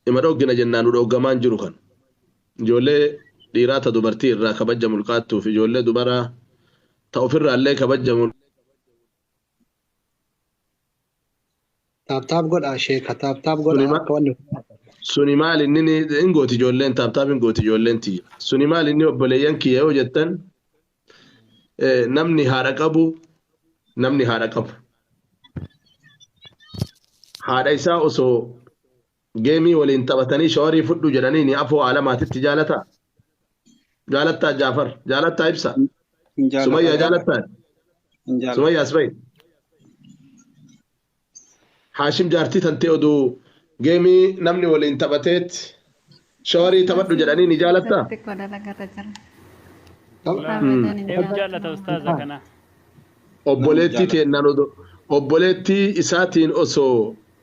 ima dhoggina jennaan nu dhoggamaan jiru kan ijoollee dhiiraa ta dubartii irraa kabajja mulqaattuuf ijoollee dubaraa ta ofirraa illee kabajja Taap taap godhaa sheeka taap taap godhaa Suleymaan- akka wanni suni maal inni ni- hin gooti ijoolleen taaptaap hin gooti ijoolleen tiyya suni maal inni obboleeyyan kiyya yoo jettan eh, namni haadha qabu namni haadha qabu haadha isaa osoo Geemii waliin taphatanii shawarii fudhu jedhaniini afoo aalamaatitti jaalataa? Jaalattaa Jaafar? Jaalattaa Ibsaa? Hin jaalata Sumayyaa jaalata. jaalattaa? Hin jaalata. Sumayyaa Asbay? Haashim jaartii tantee oduu geemii namni waliin taphateet shawarii taphadhu jedhaniini jaalattaa? Sirriitti koo dalagarra jira. Walaa Abadan hin hin jaalatu. jaallata ustaaza kana. Obboleettii Namni teennaan odoo obboleettii isaatiin osoo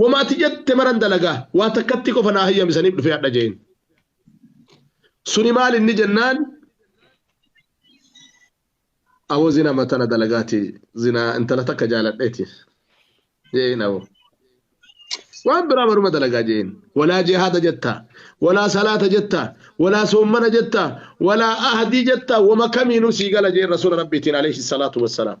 Wamaati jette maran dalagaa waa takkatti qofa naa hayyamisaniif dhufee hadha jeen. Suni maal inni jennaan aboo zina matana dalagaati zinaa intala takka jaaladheeti jeen aboo. Waan biraa maruma dalagaa jeen. Walaa jihaada jettaa walaa salaata jettaa walaa soommana jettaa walaa ahadii jettaa wama kamiinuu sii gala jeen rasuula rabbiitiin alayhi salaatu wassalaam.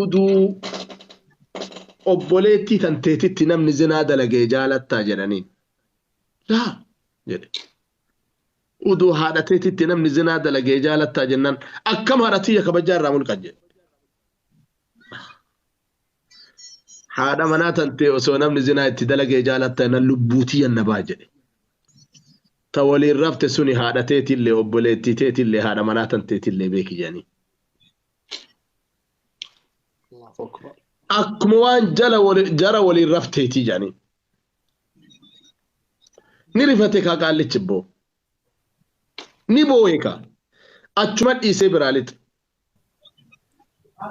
uduu obboleettii tanteetitti namni zinaa dalagee jaalattaa jedhaniin laa jedhe uduu haadha teetitti namni zinaa dalagee jaalattaa jennaan akkam haadha tiyya kabajaa irraa mulqan jedhe haadha manaa tantee osoo namni zinaa itti dalagee jaalatta jennaan lubbuu tiyya na baa jedhe ta waliin rafte suni haadha teetillee obboleettii teetillee haadha manaa tanteetillee beeki jedhanii akkuma waan jala wali- jara waliin rafteetii jedhanii ni rifate kaa qaallichi boo ni boohe kaa achuma dhiisee biraa lixe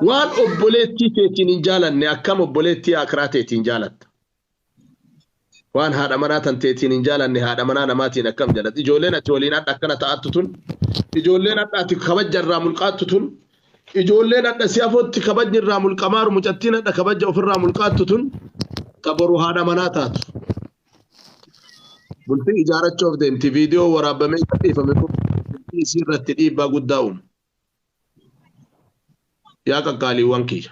waan obboleettii teetiin hin jaalanne akkam obboleettii akiraa teetiin jaalatta Waan haadha manaa tan teetiin hin jaalanne haadha manaa namaatiin akkam jalatti. Ijoolleen ati waliin hadha akkana ta'attu tun, ijoolleen hadha ati kabajja irraa mulqaattu tun, ijoolleen hadha si afootti kabajni irraa mulqamaaru mucattiin hadha kabajja ofirraa mulqaattu tun ta boru haadha manaa taatu. Bultii ijaarachuuf deemti viidiyoo waraabamee gadhiifame kun bultii isii irratti dhiibbaa guddaa uuma. Yaa qaqqaaliiwwan kiyya.